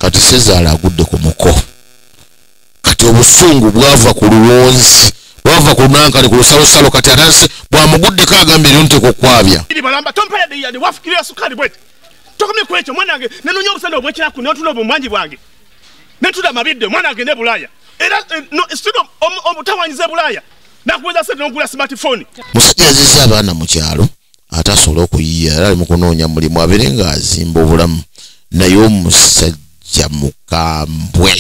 kati sezaala agudde ku muko kati obusungu bwava ku luwonzi bwava ku nankale ku lusalosalo kati atase bwamuguddeko agambye lyo nteeka okwabya tokomye kwekyo omwana wange nenonya obusana obwekiraku notuna obumwangi bwange netuda mabidde omwana agende e bulaaya era eh, stud obutawanyiza e bulaaya nakuweza sente nogula smartphone musajja aziza abaana mu kyalo ate asobole okuyiya era ali mu kunoonya mulimu abeere nga azimba obulamu naye omusajja mukambwe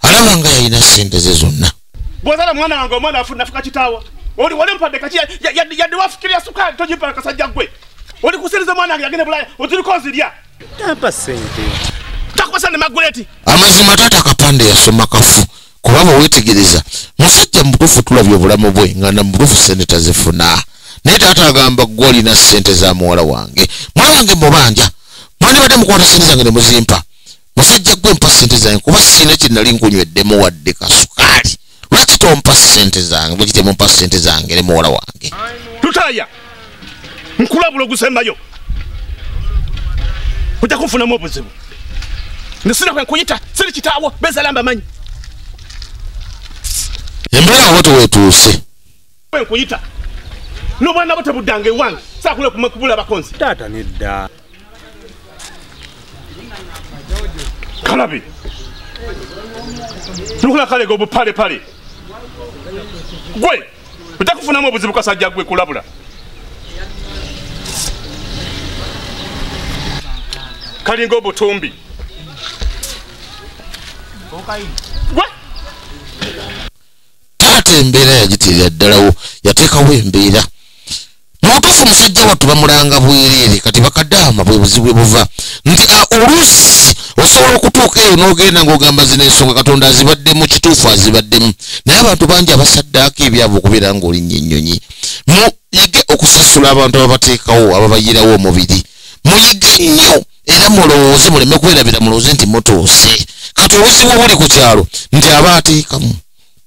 alaba nga yalina sente ze zonna bwozala mwana wange omwana afunafuka kitaawo oli wali mpadde kaki yadde wafikirira sukaali tojimpala kasajja gwe oli kusiriza omwana wange yagende bulaya otiriko nzirya tampa sente takubasa ne maguleti amazima taata kapande yasoma kafu kuba bwewetegereza musajja mubutuufu tulabye obulamu bwe nga namubutuufu sente tazifuna naye taata agamba gwe olina sente za muwala wange mwana wange mubanja mwandibadde mukwata sente zange nemuzimpa musajja gwe mpa sente zange kuba siina kyenali nkunyweddemu wadde kasukaali lwaki tompa sente zange bwekitemumpa sente zange ne muwala wange tutaya nkulabula ogusembayo ojja kunfunamu obuzibu nesina kwe nkuyita siri kitaawo bezalamba manyi embeera wote wetuuse kwe nkuyita n'obwana bwo tebuddanga ewange saakula kubula bakonzi taata nedda kalabi nukula kalega obupalepale gwe ojja kufunamu obuzibu kasajja gwe kulabula kalinga obutumbi taata embeera yagitirira ddalawo yateekawo embeera mubutuufu musajja wattu bamulanga bwereere kati bakadaama bwe buzibu ebuva nti oluusi osobola okutuuka eyo n'ogenda ng'ogamba zino ensonga katonda azibaddemu kituufu azibaddemu naye abantu bangi abasaddaako ebyabo okubeera ng'olinnya ennyonyi muyige okusasula abantu ababateekawo ababayirawo omubiri muyige nnyo era mulowooze muleme kwerabira mulowooze nti mutuuse kati obuzibu obuli ku kyalo nti aba ateekamu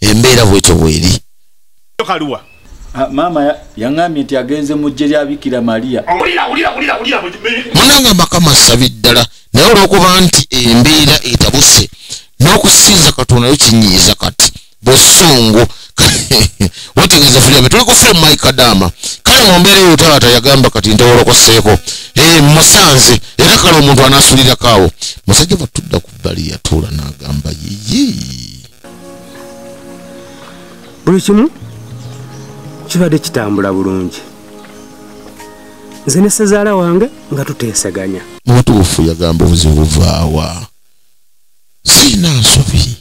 embeera bwetyo bweri kaluwa ah, maama yaŋambye nti agenze mu ggye lya bikira maria munange amakama sabi ddala naye olwokuba nti embeera etabuse n'okusinza katonda yo kinyiiza kati busungu wategeeza firibe tuli ku firimu mike kadaama kale mu mbeera eyo taata yagamba kati ntewolokoseeko eh, musanze era kale omuntu anaasulirako awo musajja batudda ku bbali yatuula n'agamba yiyi buli kimu kibadde kitambula bulungi nze ne sezaala wange nga tuteeseganya mutuufu yagamba obuzibu buvaawa siina nsobi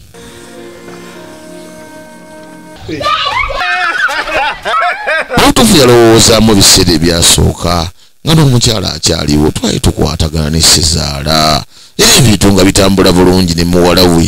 mutuufu yalowoozaamu ebiseera ebyasooka nga n'omukyala akyaliwo twali tukwatagana ne sezaala era ebintu nga bitambula bulungi ne muwala we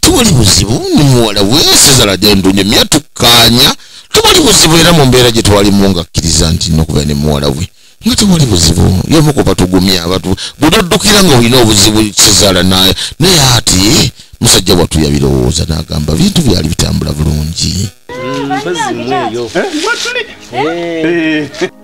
tewali buzibu ne muwala we sizala gyendunye mya tukkaanya tewali buzibu era mu mbeera gye twalimu nga kkiriza nti nokubeera ne muwala we nga tewali buzibu yomu ku batugumya abatu budoddukira nga olina obuzibu kizaala naye naye ati musajja wattu yabirowooza n'agamba bintu byali bitambula bulungi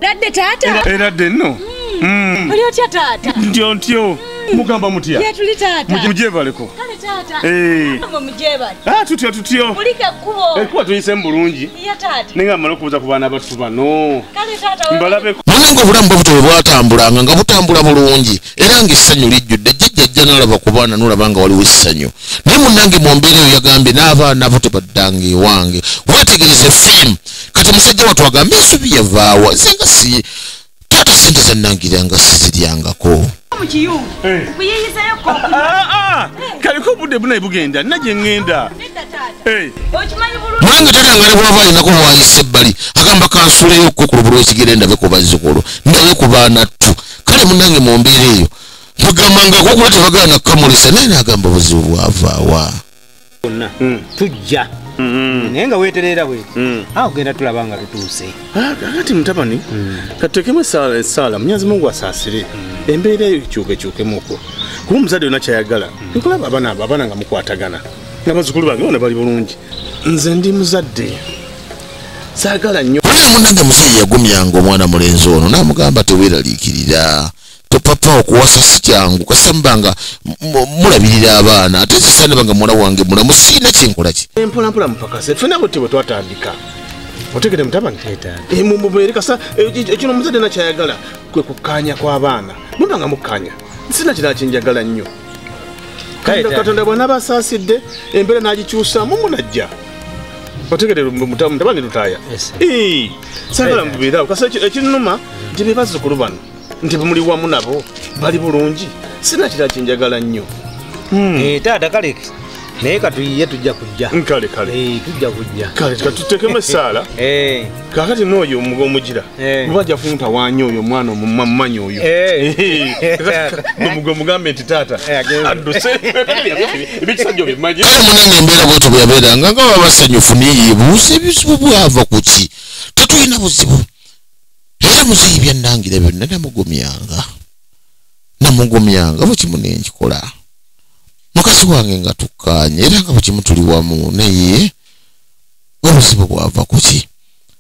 Ladde taata. Era de no. Mm. Oli otya taata? Ntyo ntyo. Mugamba mutya? Ye tuli taata. Mujebaleko. Kale taata. Eh. Mama mujebali. Ah tutyo tutyo. Mulike kubo. Ekuwa eh, tuyise mbulungi. Ye taata. Ninga mara kubuza ku bana batu bano. Kale taata. Mbalabe. Mulenge obulamu bwabutwe bwatambulanga nga butambula bulungi. era ng'essanyu lijjudde jjajja ajja n'alaba ku baana n'olaba nga waliwo essanyu naye munnange mu mbeera eyo yagambye n'abaana abo tebaddanga ewange weetegereze fiimu kati musajja watu agamba ensubi yavaawa nze nga si taata sente zannangira nga siziryangako kaliko obudde bunaye bugenda nina gye ŋŋenda mulange tata nga nebwaba alinako waayisa ebbali agamba kansuleyo okukokulubulwa ekigere ndabe ku bazzukulu ndabe ku baana ttu kale munange mu mbeera eyo tugamba nga gwogula tebagala nakukamulisa naye nagamba obuzibu bwavaawa bonna hmm. tujja Mm-hmm. naye nga weterera bwe mm. awo ah, genda tulaba nga tutuuse ah, kakati mutabani mm. katutekemu esaala munyazi mungu asaasire mm. embeera eyo ekyukekyukemuko kuba omuzadde yona kyayagala nkulaba abana abo abana nga mukwatagana nga bazukulu bange bona bali bulungi nze ndi muzadde saagala nnyo wulira munange muzeeyi yagumyanga omwana mulenzi ono n'amugamba teweeraliikirira topapa okuwasa si kyangu kasamba nga mulabirira abaana ate zisanaba nga muwala wange mulamu siina kyenkolaki empolampola mupakase fena buti bwe twatandika otegede mutabani eh, mumubeere kasa ekino eh, eh, omuzadde nakyayagala kwe kukkaanya kw'abaana muba nga mukkaanya sina kirala kyenjagala nnyo katonda bwanaaba asaasidde embeera n'agikyusamu munajja otegede mutabani lutaya sagala mubeerawo kasi ekinuma nti bebazzukulu bano nti muli wamu nabo bali bulungi sina kira kyenjagala nnyo hmm. eh, taata kale naye katuyiye tujja kujja kale kale eh, tujja kujja kale katutekemu esaala eh. kakati nooyo omugira eh. oba ajja funta wanyi oyo omwana omumanyi oyo eh. eh. omugwe omugambe nti taata adduseebikisajja obimanyi kale munange embeera bwetyo bweyabeeranga nga baba basanyufu naye buuza ebizibu bwava ku ki tetulina buzibu era muzeeyi byannangira byonna namugumyanga namugumyanga bukimu nenkikola mukazi wange nga tukkaanye era nga bukimu tuli wamu naye obuzibu bwava kuki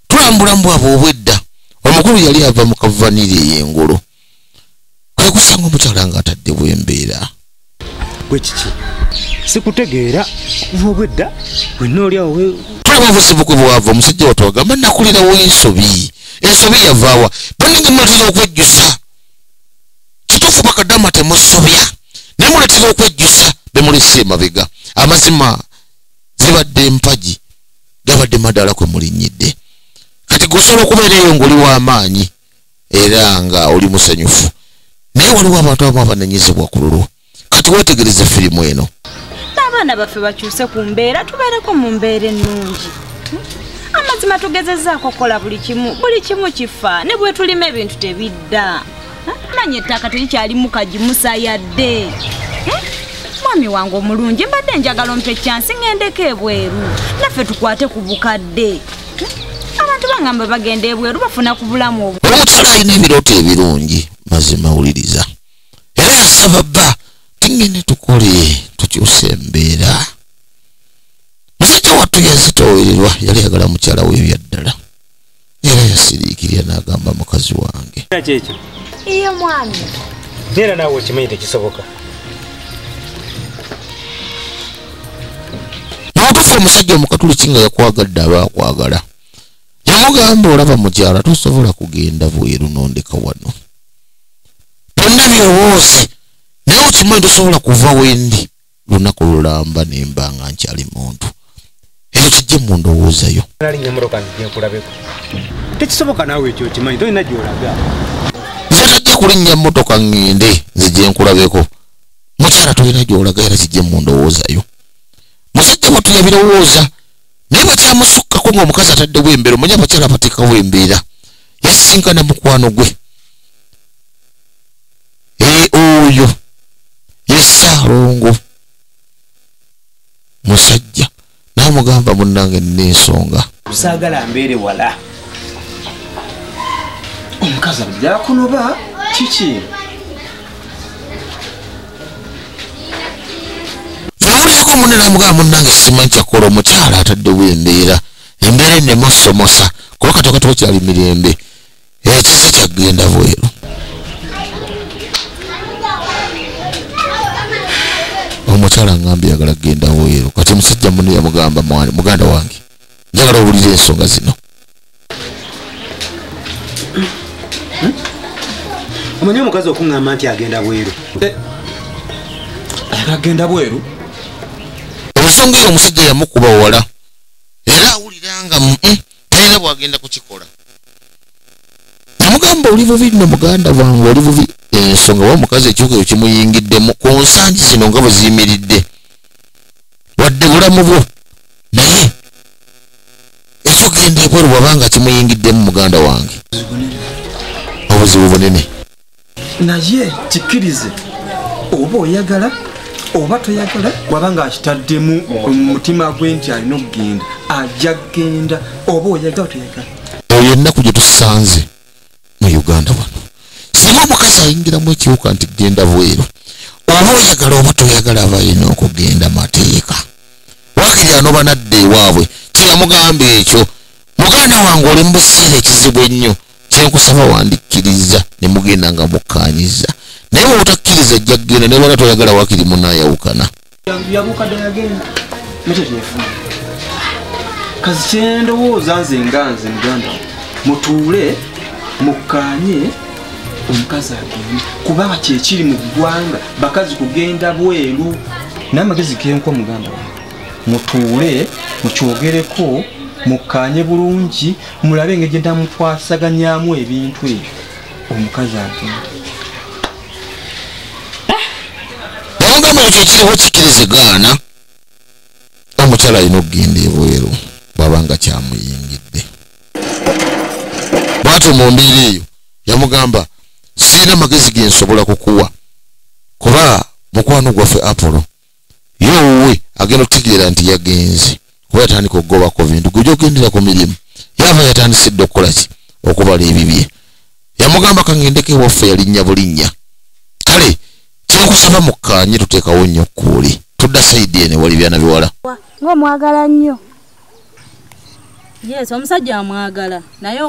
tulambula mbwabwe obwedda omukulu yali ava mu kavaniri ey'engulu kwe kusanga omukyala nga atadde bwembeera gwe kiki sikutegeera kuva obwedda wenna oli awo tulaba obuzibu kwe bwava omusajja watu agamba nakulirawo ensobi ensobi yavaawa banange muletera okwejjusa kituufu bakadama temusobya naye muletera okwejjusa bemulesa emabega amazima zibadde empagi gabadde madaala kwe mulinnyidde kati gusobola okubeera eyo ng'oli w'amaanyi era nga oli musanyufu naye waliwo abantu abamu abanenyezebwa ku lulwo kati weetegereze firimu eno abaana baffe bakyuse ku mbeera tubeereko mu mbeera ennungi amazima tugezezaako okukola buli kimu buli kimu kifa ne bwetulima ebintu tebidda manya ettaka terikyalimu kagimusa yadde mwami wange omulungi mbadde njagala ompa ekyansi ŋendeko ebweru naffe tukwate ku bukadde abantu bangamba bagenda ebweru bafuna ku bulamu obwo omukyala alina ebirooto ebirungi mazima wuliriza era yasaba bba tingende tukole tukyusa embeera musajja wattu yazitoowererwa yali yagala mukyala weyo yaddala era yasiriikirira n'agamba mukazi wange kyekyo iye mwami era naawe okimanyi tekisoboka nakufa omusajja omukatuliki nga yakwagadde aba akwagala yamugamba olaba mukyala tosobola kugenda bweru nondeka wano byonna byowoozi naye okimanyi tosobola kuva wendi lunaku lulamba nimba nga nkyali muntu ekyo kijje mu ndowooza yo tekisoboka naawe ekyo okimanyi tolina gyolaga nze tajja kulinnya mmotoka ŋŋende nze gye nkulabeko mukyala tolina gyolaga era kijje mu ndowooza yo musajja wattu yabirowooza naye bakyamusukkako ng'omukazi ataddewo embeera omanya abakyala bateekawo embeera yasisinkana mukwano gwe ee oyo ye ssaalongo musajja naamugamba munnange nina ensonga saagala mbeere wala omukazi ajakunoba kiki nawulirako munne namugamba munnange simanyi kyakukola omukyala ataddewo embeera embeera enemusomosa kuba katoka tokyali mirembe ekizi kyagenda bweru omukyala ngambye yagala kugenda bweru kati omusajja mune yamugamba mwani muganda wange njagala owulira ensonga zino omanyi omukazi okuŋŋamba nti agenda bweru eh, agenda bweru ensonga eyo omusajja yamukuba wala era awulira nga mm, mm. talina bwagenda kukikola namugamba oli bubi no muganda wange oli bubi ensonga wa mukazi ekibuga ekyo kimuyingiddemu ku nsangi zino nga bwe ziyimiridde wadde bulamu bwo naye ekyogenda ebweru wabanga kimuyingiddemu muganda wange obuzibu bunene naye kikkirize oba oyagala oba toyagala waba nga akitaddemu mumutima gwe nti alina okugenda ajja kugenda oba oyagala toyagala eyo ennaku gye tusanze mu uganda wano singa omukazi ayingiramu ekiwuka nti genda bweru oba oyagala oba toyagala aba yina okugenda mateeka wakiri anoba nadda ewaabwe kyeyamugamba ekyo muganda wange oli mu buseera ekizibu ennyo kyenkusaba wandikkiriza ne mugenda nga mukkaanyiza naye bwebutakkiriza ajja kugenda naye bana toyagala wakiri munayawukana kazi kyendowooza nze nga nze muganda mutuule mukkaanye omukazi agende kubanga kyekiri mu ggwanga bakazi kugenda bweru naye amagezi genkwa muganda mutuule mukyogereko mukkaanye bulungi mulabe engeri gye namukwasaganyamu ebintu ebyo omukazi agenda namugamba ekyo ekiriho kikirizigaana omukyala alina okugenda ebweru bwaba nga kyamuyingidde bwatyo mu mbeera eyo yamugamba sirina magezi gensobola kukuwa kuba mukwano gwaffe apolo ye owuwe agenda okutegeera nti yagenze kuba yatandika okugobako bintu gwe gyogendera ku mirimu yaava yatandise dda okukola ki okubala ebibye yamugamba kangendeko ewaffe yalinnya bulinnya kale kyokusaba mukkaanye tuteekawo nnyo kkuuli tudda sayidi ene wali byana biwala ngaomwagala nnyo yes omusajja amwagala naye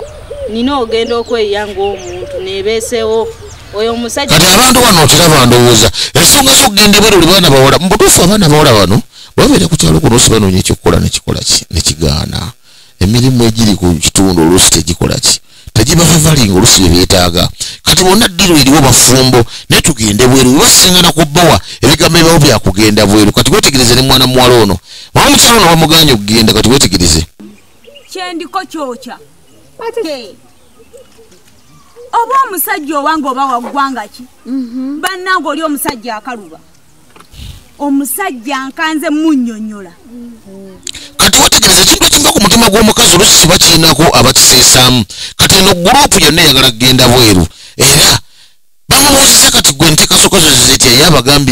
nina ogenda okweyiya ngaomuntu nebeesewo oyo omusajja kati abantu wano okiraba ndowooza ensonga zokugenda ebweru oli baana bawala mubutuufu abaana bawala bano babeera ku kyalo kuno sibanoonya ekyokukola nekikola ki nekigaana emirimu egiri ku kitundu oluusi tegikola ki tagibavavalinga olusi byebyetaaga kati bonna ddiru eriwo bafumbo naye tugende bweru webasingana ku bbawa ebigambo ebibawo byakugenda bweru kati wetegereze ne mwana muwala ono mama mukyalo ono bamuganye okugenda kati wetegereze kyendiko kyokya oba omusajja owange oba waggwanga ki mhm. bannange oli omusajja akaluba omusajja nkanze munyonyola kati wetegereza ekintu ekiva ku mutima gw'omukazi olusi kiba kirinako abakiseesaamu kati eno gurupu yonna eyagala kugenda bweru era bamubuuziza kati gwe ntekasokazo zizitya ye abagambye